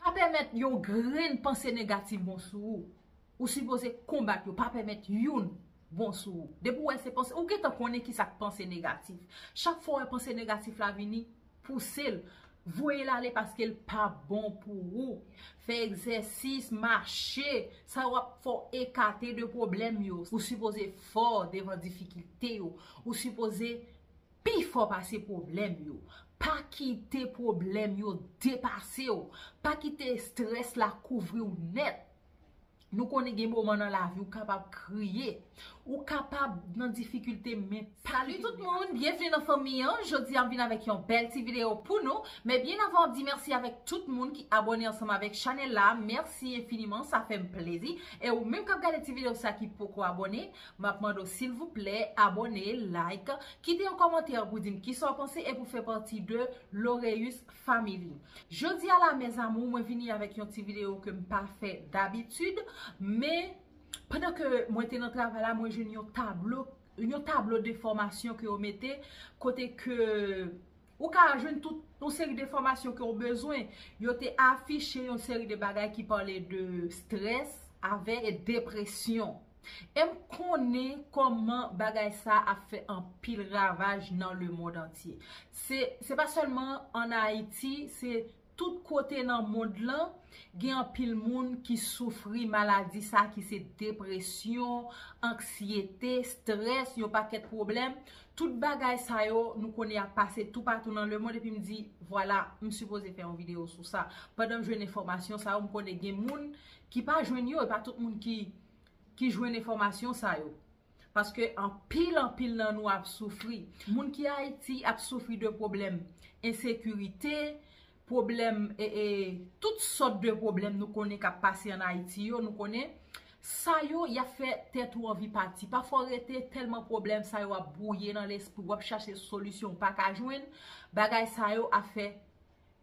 Pa pèmèt yon grenn panse negatif bon sou ou. Ou sipoze konbat yo, pa pèmèt youn bon sou ou. Depi ou wè se panse, ou gentan konnen kisa k panse negatif. Chak fwa ou wè panse negatif la vini, pouse l, voye l ale paske l pa bon pou ou. Fè egzèsis, mache, sa yo ap fè w ekate de pwoblèm yo. Ou sipoze fò devan difikilte yo. Ou sipoze Pi fò pase pwoblèm yo. Pa kite pwoblèm yo depase w. Pa kite estrès la kouvri w nèt. Nou konnen gen moman nan lavi ou kapab kriye. Ou kapab nan difikilte men. Salut tout moun, byenvni nan fanmi an, jodi a m vin avèk yon bèl ti video pou nou, men byen avan map di mèsi avèk tout moun ki abòne ansanm avèk chanèl la, mèsi enfiniman sa fèm plezi, e ou menm kap gade ti video sa ki poko abòne, Map mande w silvouplè abone, like, kite yon kòmantè pou dim kisa w panse e pou fè pati de Loreus Family. Jodi a la mes amour mwen vini avèk yon ti video ke m pa fè dabitid men pandan ke mwen te nan travay la mwen jwenn yon tablo yon tablo de fòmasyon ke yo mete kote ke Ou ka jwenn tout yon seri de fòmasyon ke ou bezwen. Yo te afiche yon seri de bagay ki pale de strès avè depresyon. E m konnen kòman bagay sa a ap fè anpil ravaj nan lemond antye. Se pa sèlman an Ayiti, se Tout kote nan mond lan, gen anpil moun ki soufri maladi sa ki se depresyon, anksyete, strès, yon pakèt pwoblèm. Tout bagay sa yo, nou konnen y ap pase toupatou nan lemond epi m di, vwala, m sipoze fè yon videyo sou sa. Pandan m jwenn enfòmasyon sa yo, m konnen gen moun ki pa jwenn yo, e pa tout moun ki jwenn enfòmasyon sa yo. Paske anpil anpil nan nou ap soufri. Moun ki Ayiti ap soufri de pwoblèm ensekirite, pwoblèm e e tout sòt de pwoblèm nou konnen k ap pase an Ayiti yo, nou konnen. Sa yo, y ap fè tèt ou anvi pati. Pafwa w rete tèlman pwoblèm sa yo ap bwouye nan lespri w, w ap chache solisyon ou pa ka jwenn, bagay sa yo ap fè.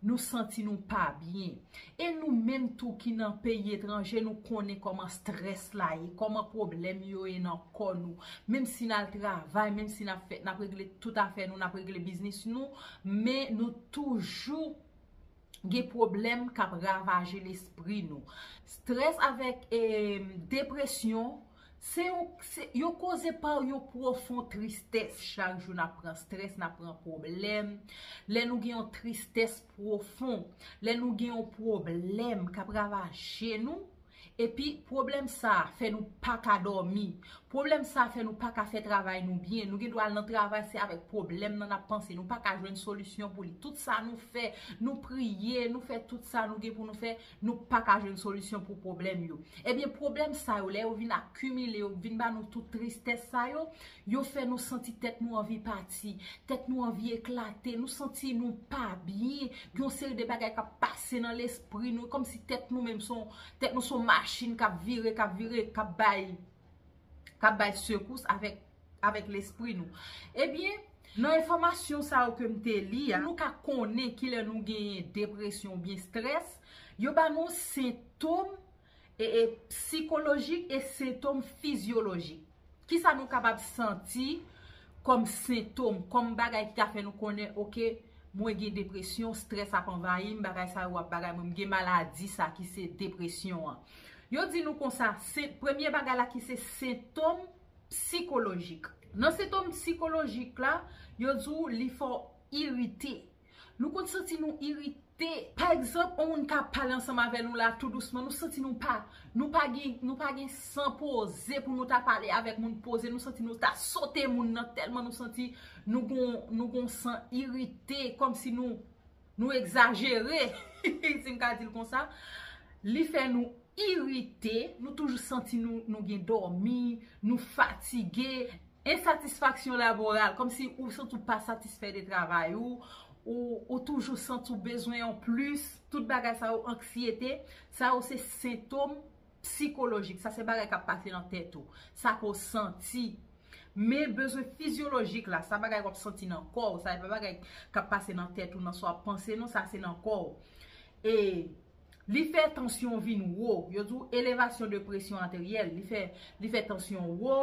Nou santi nou pa byen. E nou menm tou ki nan peyi etranje nou konnen kòman strès la ye, kòman pwoblèm yo ye nan kò nou. Menm si n al travay, menm si n ap fè, n ap regle tout afè nou, n ap regle biznis nou, men nou toujou gen pwoblèm k ap ravaje lespri nou. Strès avèk depresyon Se yon, se yon koze pa yon pwofon tristès. Chak jou nap pran strès, nap pran pwoblèm. Lè nou gen yon tristès pwofon, lè nou gen yon pwoblèm kap ravaje nou, epi pwoblèm sa a fè nou pa ka dòmi, pwoblèm sa a fè nou pa ka fè travay nou byen, nou gen dwa al nan travay se avèk pwoblèm nan nap panse, nou pa ka jwenn solisyon pou li. Tout sa nou fè, nou priye, nou fè tout sa nou gen pou nou fè. Nou pa ka jwenn solisyon pou pwoblèm yo. Ebyen pwoblèm sa yo lè yo vin akimile, yo vin ba nou tout tristès sa yo, yo fè nou santi tèt nou anvi pati, tèt nou anvi eklate, nou santi nou pa byen, gen yon seri de bagay k ap pase nan lespri nou, kòm si tèt nou menm son, tèt nou son machin k ap vire, k ap vire, k ap bay, k ap bay sekous avèk. avèk lespri nou. Ebyen, nan enfòmasyon sa yo ke m te li a, pou nou ka konnen ki lè nou genyen depresyon oubyen strès, yo ba nou sentom psikolojik e sentom fizyolojik. Ki sa nou kapab santi kòm sentom, kòm bagay ki ka fè nou konnen ok, mwen gen depresyon, strès ap anvayi m, bagay sa yo ap bagay mwen, m gen maladi sa ki se depresyon an. Yo di nou konsa, premye bagay la ki se sentom. Psikolojik. Nan sentom psikolojik la, yo di w li fè w irite. Nou konn santi nou irite. Pa egzanp, yon moun ka pale ansanm avè nou la tou dousman, nou santi nou pa, nou pa gen, nou pa gen san poze pou nou ta pale avèk moun poze, nou santi nou ta sote moun nan tèlman nou santi nou gon, nou gon san irite, kòmsi nou, Nou egzajere, si m ka di l konsa. Li fè nou irite, nou toujou santi nou gen dòmi, nou fatige, ensatisfaksyon laboral, kòm si ou santi ou pa satisfè de travay ou, ou toujou santi ou bezwen yon plis, tout bagay sa yo anksyete, sa yo se sentom. Psikolojik, sa se bagay kap pase nan tèt ou. Sa ke w santi. Men bezwen fizyolojik la, sa bagay wap santi nan kò w. Sa e pa bagay kap pase nan tèt ou nan sa wap panse non, sa se nan kò w. E li fè tansyon vin wo. Yo di w elevasyon de presyon ateryèl. Li fè tansyon wo,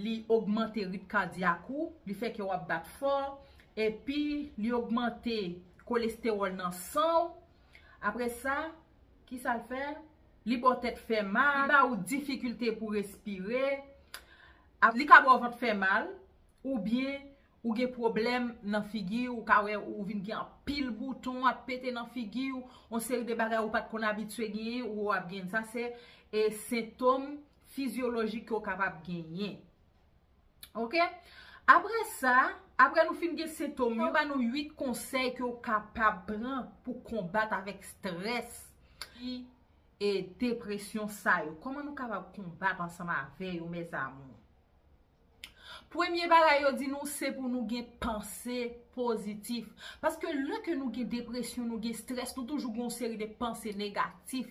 li ogmante rit kadyak ou, li fè kè w ap bat fò. Epi li ogmante kolestewòl nan san w. Apre sa, ki sa l fè? li ba w tèt fè mal, li ba ou difikilte pou respire, li ka ba w vant fè mal, oubyen ou gen pwoblèm nan figi ou, ou ka wè ou vin gen anpil bouton ap pete nan figi ou, yon seri de bagay ou pat konn abitye genyen ou ap genyen. Sa se sentom fizyolojik ke w kapab genyen. Ok, apre sa, apre nou fin gen sentom yo, yo ba nou 8 konsèy ke ou kapab pran pou konbat avèk strès ki e depresyon sa yo. Koman nou kapab konbat ansanm avè yo mes amour? Premye bagay yo di nou se pou nou gen panse pozitif. Paske lè ke nou gen depresyon, nou gen strès, nou toujou gen yon seri de panse negatif.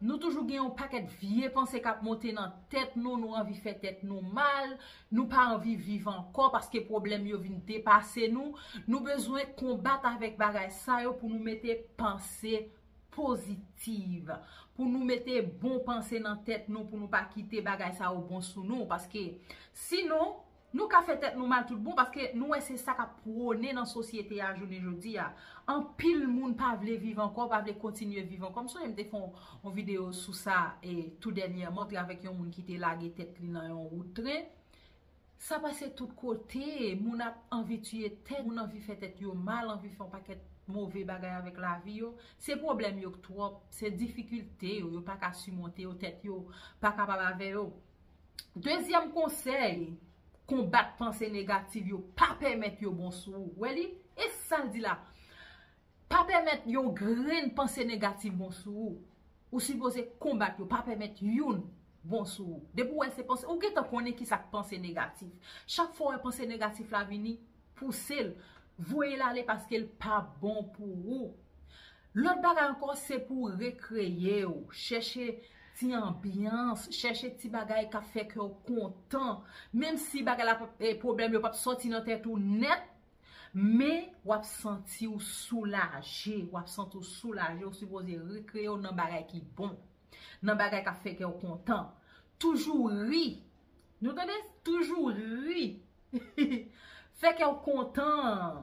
Nou toujou gen yon pakèt vye panse k ap monte nan tèt nou, nou anvi fè tèt nou mal, nou pa anvi viv ankò paske pwoblèm yo vin depase nou. Nou bezwen konbat avèk bagay sa yo pou nou mete panse pozitiv, pou nou mete bon panse nan tèt nou, pou nou pa kite bagay sa yo bon sou nou paske sinon, Nou ka fè tèt nou mal tout bon paske nou wè se sa k ap pwone nan sosyete a jounen jodi a. Anpil moun pa vle viv ankò, pa vle kontinye viv ankò. M sonje m te fè yon videyo sou sa tou dènyèman, m te avèk yon moun ki te lage tèt li nan yon wout tren. Sa pase tout kote, moun ap anvi tiye tèt, moun anvi fè tèt yo mal, anvi fè yon pakèt move bagay avèk lavi yo. Se pwoblèm yo k twòp, se difikilte yo, yo pa ka simonte yo, tèt yo pa kapab avè yo. Dezyèm konsèy, konbat panse negativ yo, pa pèmèt yo bon sou ou. Wè li? E sa l di la? Pa pèmèt yon grenn panse negativ bon sou ou. Ou sipoze konbat yo, pa pèmèt youn bon sou ou. Depi w wè se panse, ou gentan konnen ki sa k panse negatif. Chak fwa w wè panse negatif la vini, pouse l, voye l ale paske l pa bon pou ou. Lòt bagay ankò se pou w rekreye w, chèche ti anbyans, chèche ti bagay k ap fè kè w kontan. Menm si bagay la, pwoblèm yo p ap sòti nan tèt ou nèt, men w ap santi w soulaje, w ap santi w soulaje, ou sipoze rekreye w nan bagay ki bon, nan bagay k ap fè kè w kontan. Toujou ri, nou tande, toujou ri, fè kè w kontan.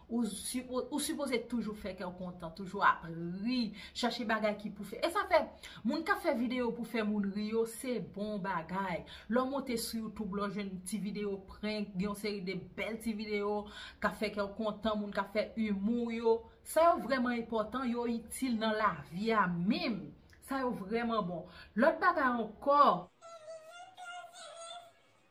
Ou sipoze toujou fè kèw kontan, toujou ap ri, chache bagay ki pou fè. E sa fè, moun kap fè video pou fè moun ri yo, se bon bagay. Lè w monte sou YouTube la, w jwenn ti video prank, gen yon seri de bèl ti video kap fè kèw kontan, moun kap fè humour yo. Sa yo vreman enpotan, yo itil nan lavi a menm. Sa yo vreman bon. Lòt bagay ankò. Mwen pa vle pèdi li.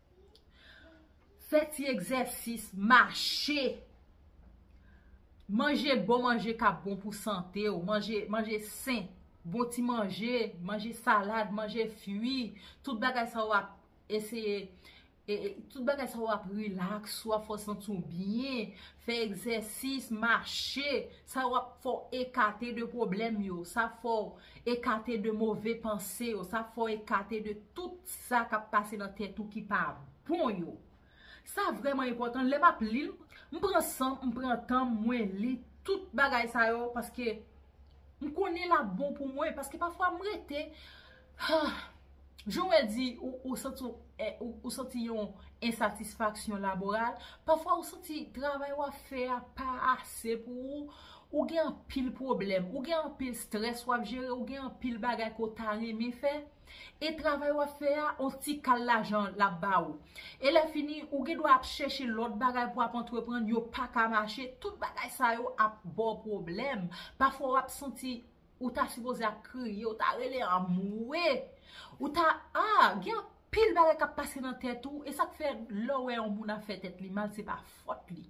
Fè ti egzèsis, mache, manje bon manje k ap bon pou sante ou, manje sen, bon ti manje, manje salad, manje fwi, tout bagay sa w ap eseye, tout bagay sa w ap rilaks ou, ap fè w santi w byen, fè egzèsis, mache, sa w ap fè w ekate de pwoblèm yo, sa ap fè w Ekate de move panse yo. Sa fè w ekate de tout sa k ap pase nan tèt ou ki pa bon yo. Sa vrèman enpòtan. Lè m ap li l, m pran san m, m pran tan m, mwen li tout bagay sa yo paske m konnen l ap bon pou mwen. Paske pafwa m rete. Jan wè di ou santi w ou santi yon ensatisfaksyon laboral, pafwa ou santi travay w ap fè a pa ase pou ou, ou gen anpil pwoblèm, ou gen anpil strès w ap jere, ou gen anpil bagay ke w ta renmen fè, e travay w ap fè a on ti kal lajan l ap ba ou. E lè fini ou gen dwa ap chèche lòt bagay pou w ap antreprann, yo pa ka mache, tout bagay sa yo ap ba w pwoblèm. Pafwa w ap santi Ou ta sipoze ap kriye, ou ta rele anmwe, ou ta ah gen anpil bagay kap pase nan tèt ou, e sak fè lè ou wè yon moun ap fè tèt li mal se pa fòt li.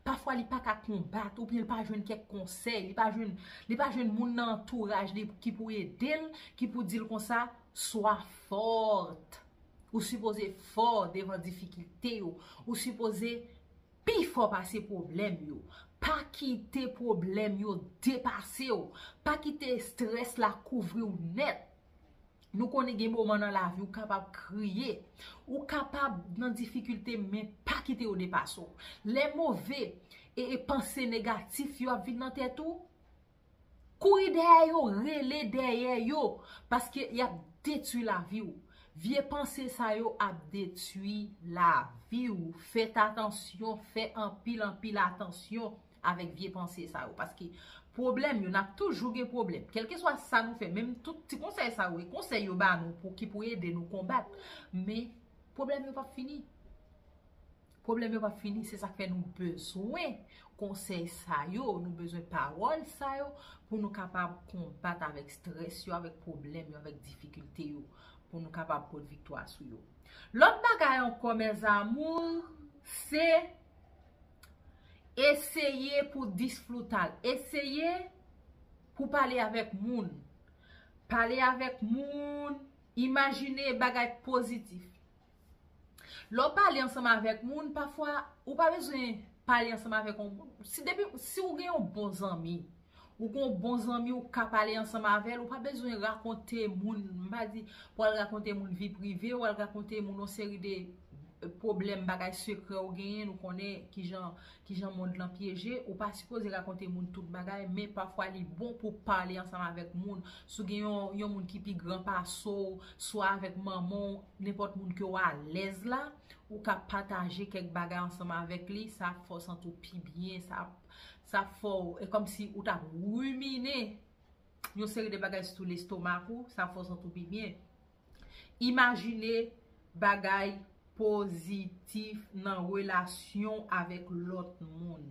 Pafwa li pa ka konbat ou byen li pa jwenn kèk konsèy, li pa jwenn li pa jwenn moun nan antouraj li ki pou edel, ki pou dil konsa swa fort. Ou sipoze fò devan difikilte yo, ou sipoze Pi fò pase pwoblèm yo. Pa kite pwoblèm yo depase w. Pa kite estrès la kouvri w nèt. Nou konnen gen moman nan lavi ou kapab kriye. Ou kapab nan difikilte men pa kite yo depase w. Lè move e panse negatif yo ap vin nan tèt ou, Kouri dèyè yo, rele dèyè yo, paske y ap detwi lavi w. Vye panse sa yo ap detwi lavi w. Fèt atansyon, fè anpil anpil atansyon avèk vye panse sa yo. Paske pwoblèm yo, n ap toujou gen pwoblèm. Kèlkeswa sa nou fè, menm tout ti konsèy sa yo, e konsèy yo ba nou pou ki pou ede nou konbat, men pwoblèm yo p ap fini. Pwoblèm yo pap fini, se sak fè nou bezwen konsèy sa yo, nou bezwen pawòl sa yo pou nou kapab konbat avèk strès yo, avèk pwoblèm yo, avèk difikilte yo, pou nou kapab pot viktwa sou yo. Lòt bagay ankò mes amours, se eseye pou disfrutal, eseye pou pale avèk moun, pale avèk moun, imajine bagay pozitif, Lè w pale ansanm avèk moun, pafwa ou pa bezwen pale ansanm avèk yon moun. Si depi, si ou gen yon bon zanmi, ou gen yon bon zanmi ou ka pale ansanm avè l, ou pa bezwen rakonte moun, m pa di pou al rakonte moun vi prive ou, al rakonte moun yon seri de pwoblèm, bagay sekrè ou genyen, nou konnen ki jan, ki jan mond lan pyeje, ou pa sipoze rakonte moun tout bagay, men pafwa li bon pou pale ansanm avèk moun. Si w gen yon, yon moun ki pi gran pase w, swa avèk manman w. Nenpòt moun ke w alèz la, ou ka pataje kèk bagay ansanm avèk li, sa ap fè w santi w pi byen, sa ap fè w, e kòm si ou t ap rimine yon seri de bagay sitou lestomak ou, sa ap fè w santi w pi byen. Imajine bagay pozitif nan relasyon w avèk lòt moun.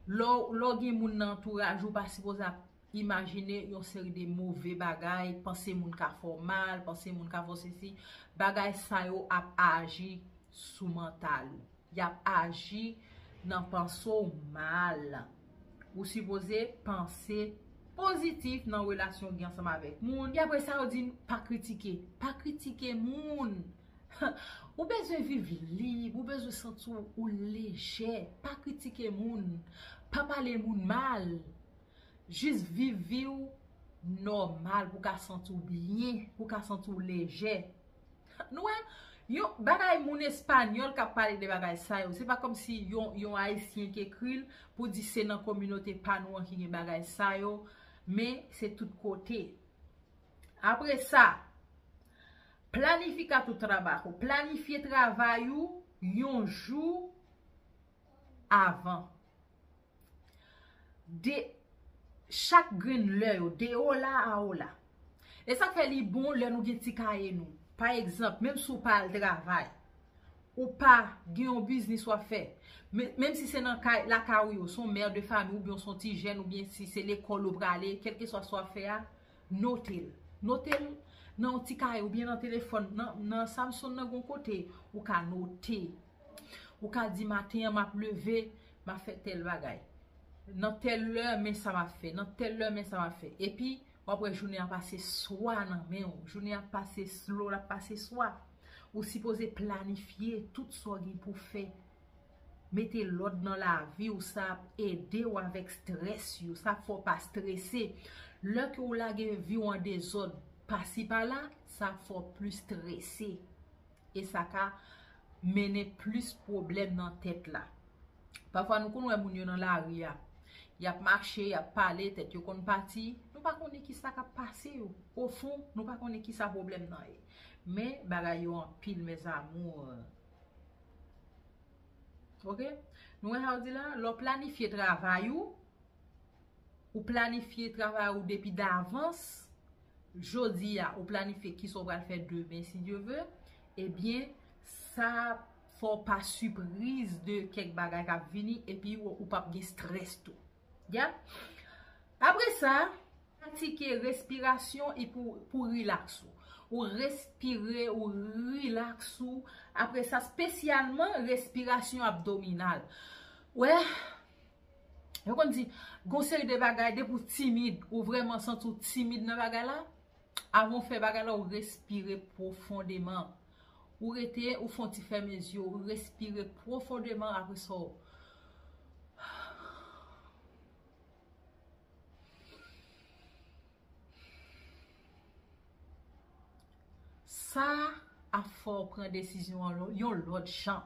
Lè w gen moun nan antouraj ou, ou pa sipoze ap Imajine yon seri de move bagay, panse moun ka fè w mal, panse moun ka fè w sesi, bagay sa yo ap aji sou mantal ou. Y ap aji nan panse w mal. Ou sipoze panse pozitif nan relasyon ou gen ansanm avèk moun. Epi apresa yo di n pa kritike. Pa kritike moun. Ou bezwen viv lib, ou bezwen santi w lejè. Pa kritike moun. Pa pale moun mal. Jis viv vi w nòmal pou w ka santi w byen, pou w ka santi w lejè. Nou wè, yon bagay moun espanyòl k ap pale de bagay sa yo, se pa kòmsi yon ayisyen ki ekri l pou di se nan kominote pa nou an ki gen bagay sa yo, men se tout kote. Apre sa, planifica tu trabajo, planifye travay ou yon jou avan. De chak grenn lè yo, de ola a ola. E sa fè li bon lè nou gen ti kaye nou. Pa egzanp, menm si ou pa al travay, ou pa gen yon biznis wap fè, menm si se nan kay, lakay ou yo, son mè de fami ou byen son ti jèn ou byen si se lekòl ou prale, kelke swa sa wap fè a, note l. Note l nan yon ti kaye ou byen nan telefòn, nan Samsung nan gon kote ou ka note. Ou ka di maten an map leve, map fè tèl bagay. Nan tèl lè men sa map fè, nan tèl lè men sa map fè. Epi, wap wè jounen an pase swa nan men ou. Jounen an pase slow, lap pase swa. Ou sipoze planifye tout sa w gen pou fè. Mete lòd nan lavi ou sa ap ede ou avèk strès yo. Sa ap fè w pa strese. Lè ke ou lage vi ou an dezòd pasi pala, sa ap fè w plis strese. e sa ka mennen plis pwoblèm nan tèt la. Pafwa nou konn wè moun yo nan lari a, y ap mache, y ap pale, tèt yo konn pati, nou pa konnen ki sa k ap pase yo. Ofon, nou pa konnen ki sa pwoblèm nan ye. Men, bagay yo anpil mes amours. Ok, nou wè sa yo di la, lè w planifye travay ou, Ou planifye travay ou depi davans, jodi a ou planifye kisa ou pral fè demen si Dye ve, ebyen sa ap fè w pa sipriz de kèk bagay k ap vini epi ou pap gen strès tou. Apre sa, pratike respirasyon pou rilaks ou. Ou respire, ou rilaks ou, apre sa spesyalman respirasyon abdominal. Ou wè? Yo konn di, gon seri de bagay depi ou timid, ou vrèman santi ou timid nan bagay la, avan ou fè bagay la ou respire pwofondeman. Ou rete, ou fon ti fèmen zye ou, ou respire pwofondeman apre sa ou. Sa ap fè ou pran desizyon an yon lòt jan.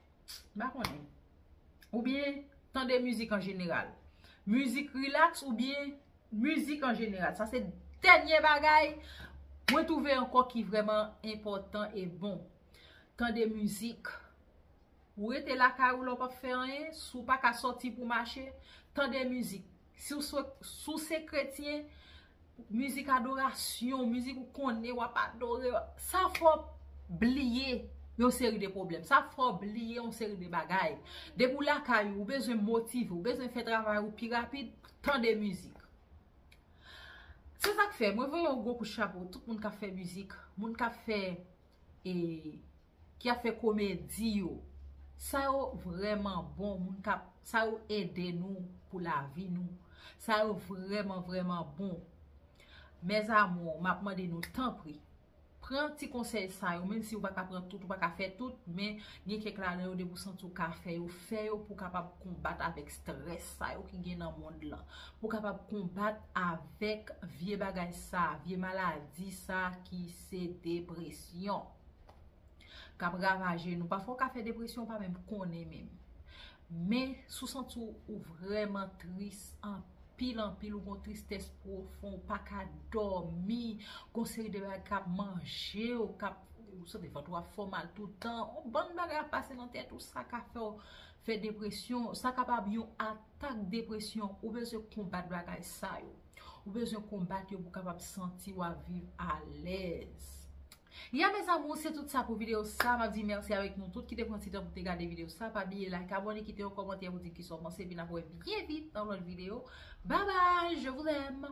Mpa konnen. Ou byen tande mizik an jeneral. Mizik rilaks ou byen mizik an jeneral. Sa se dènye bagay mwen twouve ankò ki vreman enpòtan e bon. Tande mizik. Ou rete lakay ou la ou pap fè anyen. Si w paka soti pou mache, tande mizik. Si w se kretyen, mizik adorasyon, mizik ou konnen, w ap adore, sa fè w bliye yon seri de pwoblèm, sa fè w bliye yon seri de bagay. Depi w lakay ou, ou bezwen motive, ou bezwen fè travay ou pi rapid, tande mizik. Se sa k fè, mwen voye yon gwo kout chapo, tout moun k ap fè mizik, moun k ap fè e... ki ap fè komedi yo sa yo vrèman bon moun kap sa yo ede nou pou lavi nou sa yo vrèman vrèman bon mes amour map mande nou tanpri pran ti konsèy sa yo menm si ou pa ka pran tout ou pa ka fè tout men gen kèk ladan yo depi ou santi ou ka fè yo fè yo pou kapab konbat avèk strès sa yo ki gen nan mond lan pou kapab konbat avèk vye bagay sa vye maladi sa ki se depresyon. kap ravaje nou. Pafwa ou ka fè depresyon ou pa menm konnen menm. Men, si w santi ou vreman tris, anpil anpil, ou gon tristès pwofon, ou pa ka dòmi, gon seri de bagay kap manje ou, kap, ou santi vant ou ap fè w mal toutan, on bann bagay ap pase nan tèt ou, sa ka fè w fè depresyon, sa kapab yon atak depresyon, ou bezwen konbat bagay sa yo. Ou bezwen konbat yo pou w kapab santi w ap viv alèz. Ya mes amours se tout sa pou video sa map di merci avek nou tout ki te pran ti tan pou te gade video sa pa bliye like abone kite yon komantè pou dim kisa w panse epi nap wè byen vit nan yon lot video bye bye je vous aime.